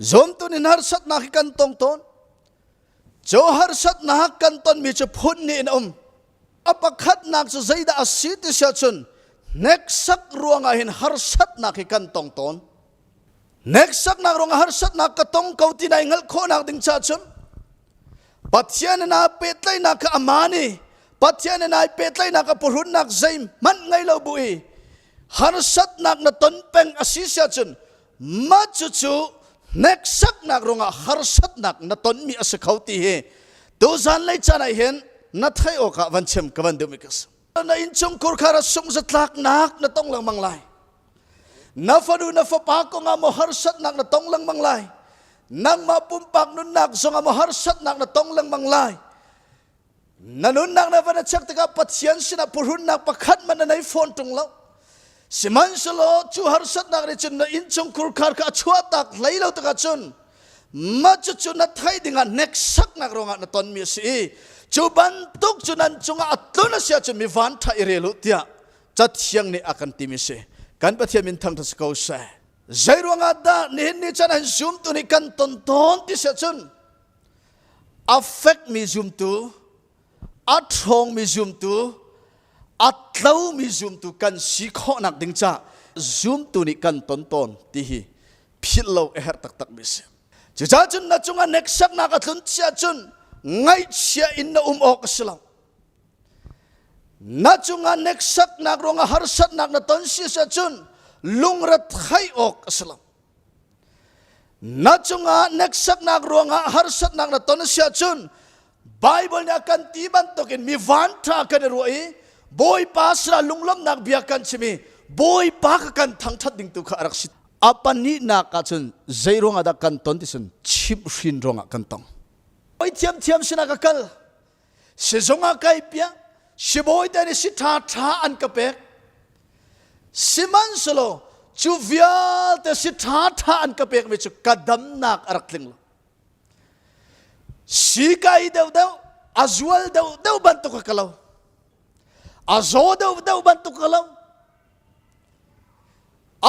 Zomtun in harsatnak hi kan tong tawn. Cho harsatnak kan tonmi cu phun ni in um. A pakhatnak cu zeidah a si ti siah cun hneksak ruangah hin harsatnak hi kan tong tawn. Hneksaknak ruangah harsatnak ka tong ko ti nai hngalh khawhnak ding ca cun Pathian in a pehtlaihnak kha aman i Pathian in ai pehtlaihnak a purhunnak zeih hmanh ngei lo bu i harsatnak na ton peng a si siah cun mah cucu hneksaknak ruangah harsatnak na tonmi a si kho ti hi tu zanlei caan ah hin na theih awkah van chem ka van duhmi ka si na innchungkhur kha ra sunghzatlaknak na tong lengmang lai na fanu na fapa kongah maw harsatnak na tong lengmang lai nangmah pumpak nunnak zongah maw harsatnak na tong lengmang lai na nunnak na van a check tikah Pathian sinah purhunnak pakhat man na nei fawn ṭung lo sihmanhsehlaw cu harsatnak nih cun na innchung kurkhar kha a chuahtak hlei lo tikah cun mah cucu na theih dingah hneksaknak ruangah na tonmi a si i cu bantuk cu nan cungah a tlun a si ahcun mi vanṭha i rel u tiah cathiang nih a kan timi si kan Pathian min thangṭhat si ko seh zei ruangah dah nihin ni chan an zumtu nih kan ton tawn ti si ahcun a fekmi zumtu a ṭhawngmi zumtu a tlomi zumtu kan si khawhnak ding caah zumtu nih kan ton tawn ti hi philh lo a herh taktakmi a si. Cucaah cun na cungah neksaknak a tlun chiah cun ngaihchia in na um awk a si lo. Na cungah neksaknak ruangah harsatnak na ton si ah cun lungrathai awk a si lo. na cungah hneksaknak ruangah harsatnak na ton si ahcun Bible nih a kan ti bantukin mi vanṭha kan i ruah i Bawipa sira lunglawmhnak bia kan chim i Bawipa ka kan thangṭhat ding tu kha a rak si a pahnihnak ah cun zei ruangah dah kan ton ti cun chimhhrin ruangah kan tong oi thiamthiam sinah ka kal sizung ah kai piak sibawi te nih si ṭha ṭha an ka pek sihmanhselaw cu vialte si ṭha ṭha an ka pek mi cu ka damnak a rak tling lo si kai deuh deuh a zual deuh deuh bantuk ka lo a zaw deuh deuh bantuk ka lo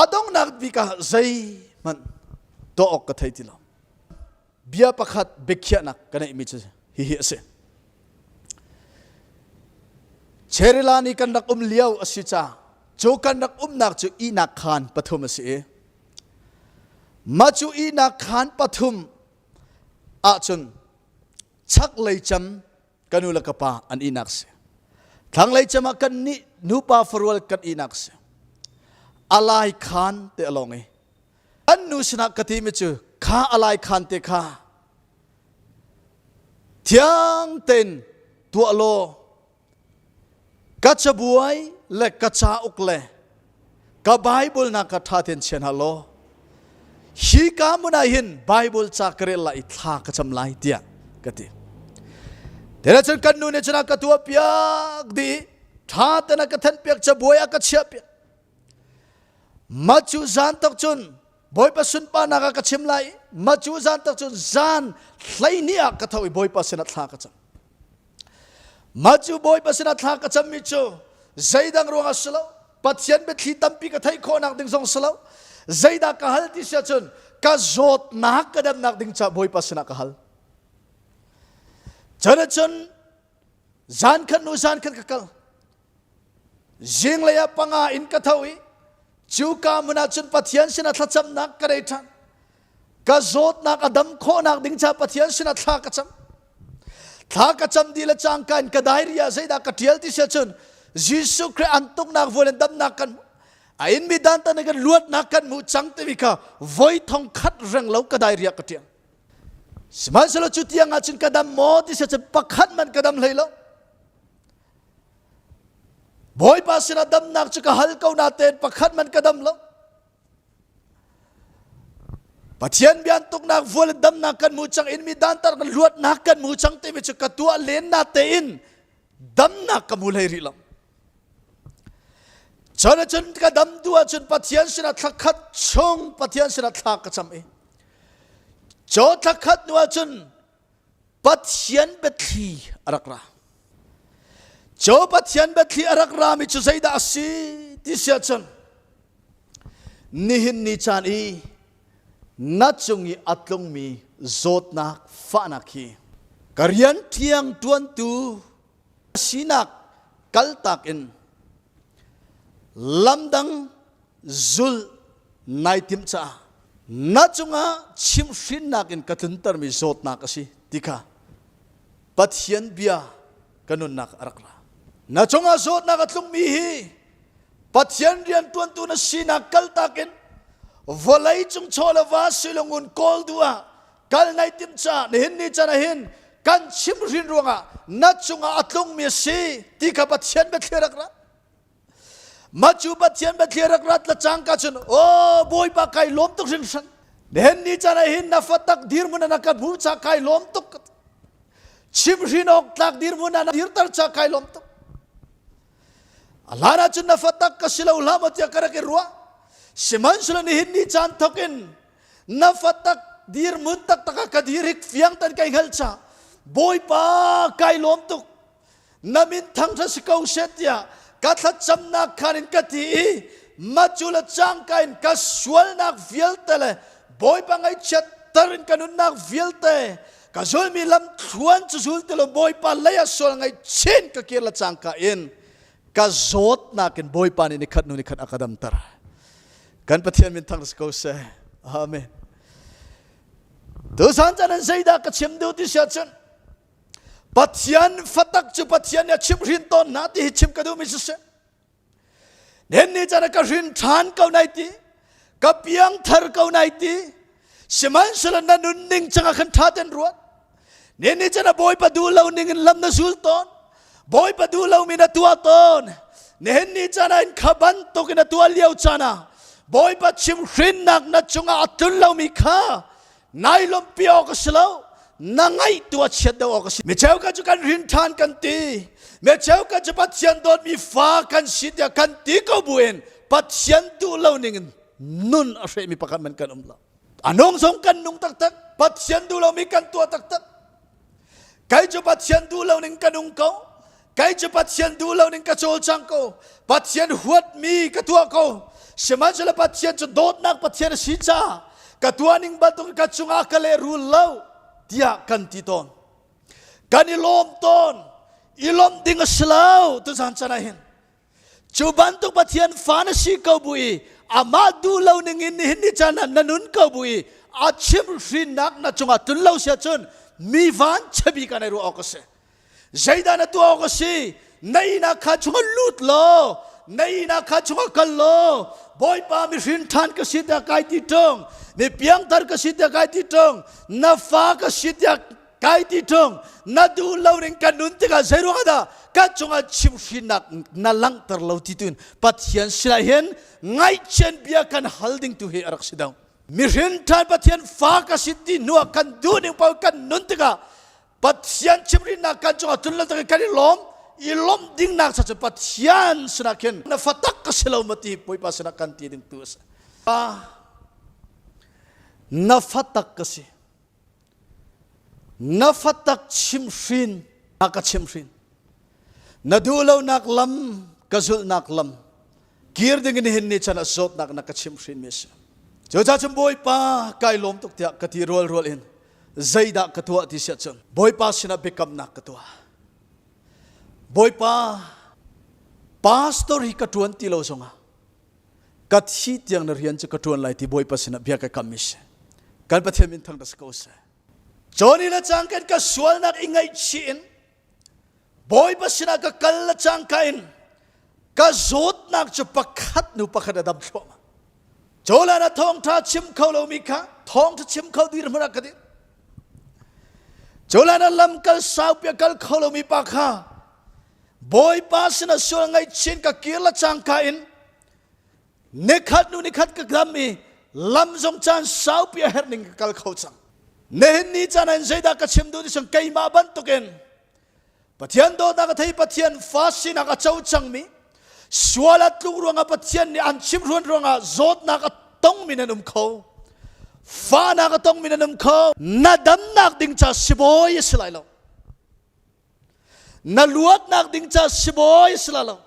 a dongnak bik ah zei hmanh tuah awk ka thei ti lo bia pakhat biakhiahnak ka neihmi cu hihi a si. Cherila ni kan rak um lio a si ca cu kan rak umnak cu ihnak khaan pathum a si i mah cu ihnak khaan pathum ahcun chaklei cem ka nu le ka pa an ihnak si thlanglei cem ah kan nih nupa farual kan ihnak si a lai khaan te a lawng i an nu sinah ka timi cu kha alai khan te kha thiang ten tuah law ka cabuai le ka ca uk le ka bible na ka tha ten chian ha law hi ka muna hin bible ca ka rel la i thla ka cham lai tiah ka ti tena cun kan nu ne chuna ka tua piak di tha tena ka than piak cha buai a ka chia piak Macu zan tak cun Bawipa sunparnak ah ka chim lai macu zan tak cun zan hleihnih ah ka tho i Bawipa sinah thla ka cam macu Bawipa sinah thla ka cammi cu zeidang ruangah si lo Pathian biathli tampi ka theih khawhnak ding zong si lo zeidah ka hal ti si ahcun ka zawtnak ka demnak ding caah Bawipa sinah ka hal cun zan khan nu zan khan ka kal zinglei ah panga in ka tho i cu ka mun ah cun pathian sinah thlacamnak ka rei ṭhan ka zawtnak a dam khawhnak ding ca pathian sinah thla ka cam thla ka cam di le cangka in ka diary ah zeidah ka ṭial ti siah cun Jesuh Christ an tuknak vuan in damnak kan hmu a in mi dan tan kan luatnak kan hmu cang timi kha voi thong khat reng lo ka diary ah ka ṭial Sihmanhsehlaw cu tiang ah cun ka dam maw ti cun pakhat man ka dam hlei lo. Bawipa sinah damnak cu ka hal ko natein pakhat man ka dam lo. Pathian bian tuknak vual in damnak kan mu cang in mi dantar kan luatnak kan mu cang timi cu ka tuah len na tein damnak ka hmu hlei rih lo cun cun ka dam tu ahcun pathian sinah thla khat chung pathian sinah thla ka cham i cho thla khat hnu ahcun pathian biathli a rak ra cho pathian biathli a rak rami cu zeidah a si ti sia cun nihin ni caan i na cung i a tlungmi zawtnak fahnak hi ka rian ṭhiang ṭuantu sinak kaltak in lamdang zulh nai tim caah na cungah chimhhrinnak in ka tluntermi zawtnak a si ti kha Pathian bia ka nunnak a rak ra. Na cungah zawtnak a tlungmi hi Pathian rianṭuantu na sinak kaltak in vawlei cung chawla va silungun kawl du ah kal nai tim caah nihin ni can ahin kan chimhrin ruangah na cungah a tlungmi a si ti kha Pathian biathlir rak ra. mah cu pathian bathlia rak rat la cang ka cun o bawipa kai lawm tuk hrin hran den ni chan ah hin na fatak dirmun ana ka bu cha kai lawm tuk chim hrin ok tlak dirmun ana dir tar cha kai lawm tuk alana cun na fatak ka silo lam atia ka rak i ruah siman sula ni hin ni chan thokin na fatak dirmun tak taka ka dir hik fiang tan kai ngal cha bawipa kai lawm tuk na min thangṭhat si ko she tiah ka thlacamnak khan in ka ti i matcu le cangka in ka sualnak vialte le bawipa ngaihchiat tar in ka nunnak vialte ka zulmi lam thluan cu zul ti lo bawipa lei ah sual ngaih chin ka kir le cangka in ka zawtnak in bawipa nih nikhat nu nikhat a ka damter kan pathian min thang si ko se amen tusan chan an zeidah ka chim duh ti siah cun Pathian fatak cu Pathian nih a chimhrin tawn hna ti hi chim ka duhmi si si. Nen ni chan ka hrin ṭhan ko nai ti, ka piangthar ko nai ti, sihmanhsehlaw na nun ning cangah khan ṭha ten ruat. Nen ni chan a bawipa duh lo ning in lam na zul tawn, bawipa duh lomi na tuah tawn. Nihin ni chan ah in kha bantuk in a tuah lio chan ah Bawipa chimhrinnak na cungah a tlun lomi kha nai lawmhpi awk a si lo na ngaih tua chiat deuh awk a si mi cheukhat cu kan rin ṭhan kan ti mi cheukhat cu pathian dawtmi fa kan si tiah kan ti ko buin pathian duh lo ningin nun a hrehmi pakhat man kan um lo a nung zong kan nung taktak pathian duh lomi kan tuah taktak kei cu pathian duh loning ka nung ko kei cu pathian duh loning ka cawlcang ko pathian huatmi ka tuah ko sihmanhsehlaw pathian cu dawtnak pathian a si caah ka tuahning bantuk ka cungah ka lehrul lo tiah kan ti tawn kan i lawm tawn i lawmh ding a si lo tuzan can ah hin Cu bantuk Pathian fa na si ko bu i amah duh lo ning in nihin ni chan na nun ko bu i a chim hrinnak na cungah tlun lo sia cun mi van chabi ka nei ruah awk a si. Zeidah na tuah awk a si? Na ihnak kha chungah lut law, na ihnak kha chungah kal law, Bawipa mihrin ṭhan ka si tiah kai ti ṭung, mi piangthar ka si tiah kai ti ṭung, na fa ka si tiah kai ti ṭung na duh lo ning kan nun tikah zei ruang dah kan cungah chimhhrinnak na langhter lo ti tuin Pathian sinah hin ngaihchian bia kan hal ding tu hi a rak si dong mihrin ṭhan Pathian fa ka si ti hnuah kan duh ning pa kan nun tikah Pathian chimhrinnak kan cungah tlun lo takin kan i lawm i lawmh dingnak sa cu Pathian sinah khin na fatak ka si lo ma ti Bawipa sinah kan ti ding tu a si na fatak ka si na fatak chimhrin na ka chimhrin na duh lonak lam ka zulhnak lam kir dingin hin ni chan ah zawtnak na ka chimhrin mi a si cucaah cun bawipa kai lawm tuk tiah ka ti rual rual in zeidah ka tuah ti siah cun bawipa sinah biakamnak ka tuah bawipa pastor hi ka ṭuan ti lo zongah ka thi tiang na rian cu ka ṭuan lai ti Bawipa sinah bia ka kam ish kan Pathian min thang da si ko seh Johnny le cang kan ka sualnak i ngaihchih in Bawipa sinah ka kal le cang ka in ka zawtnak cu pakhat nu pakhat a dam thluahmah Jolan a thawngṭha chim kho lomi kha thawngṭha chim kho dir hmunah ka din Jolan a lam kal saupi a kal kho lomi pa kha Bawipa sinah sual ngaihchin ka kir la cangka in nikhat nu nikhat ka dam i lam zong caan saupi a herh ning ka kal kho cang. Nihin ni caan in zeidah ka chim duh ni sang keimah bantukin Pathian dawtnak a thei Pathian fa sinak a co cangmi sual a tluk ruangah Pathian nih an chimhruan ruangah zawtnak a tongmi nan um kho. Fanak a tongmi nan um kho. Na damnak ding ca si bawi a si lai lo. na luatnak ding ca sibawi si la lo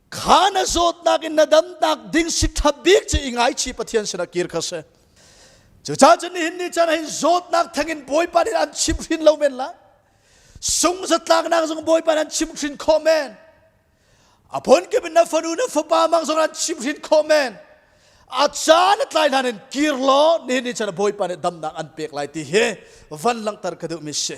kha na zawtnak in na damnak ding si ṭhap bik cu i ngaichi pathian sinah kir kha si cucaah cun nihin ni can hin zawtnak thengin bawipa nih an chim hrin lo men la sung zatlaknak zong bawipa nih an chim hrin khawh men aphon ke na fanu na fapa mang zoran chimhrin khawm men a caan a tlai hlan in kir law ni ni chan bawipa nih damnak an pek lai ti hi van langhter ka duh mi si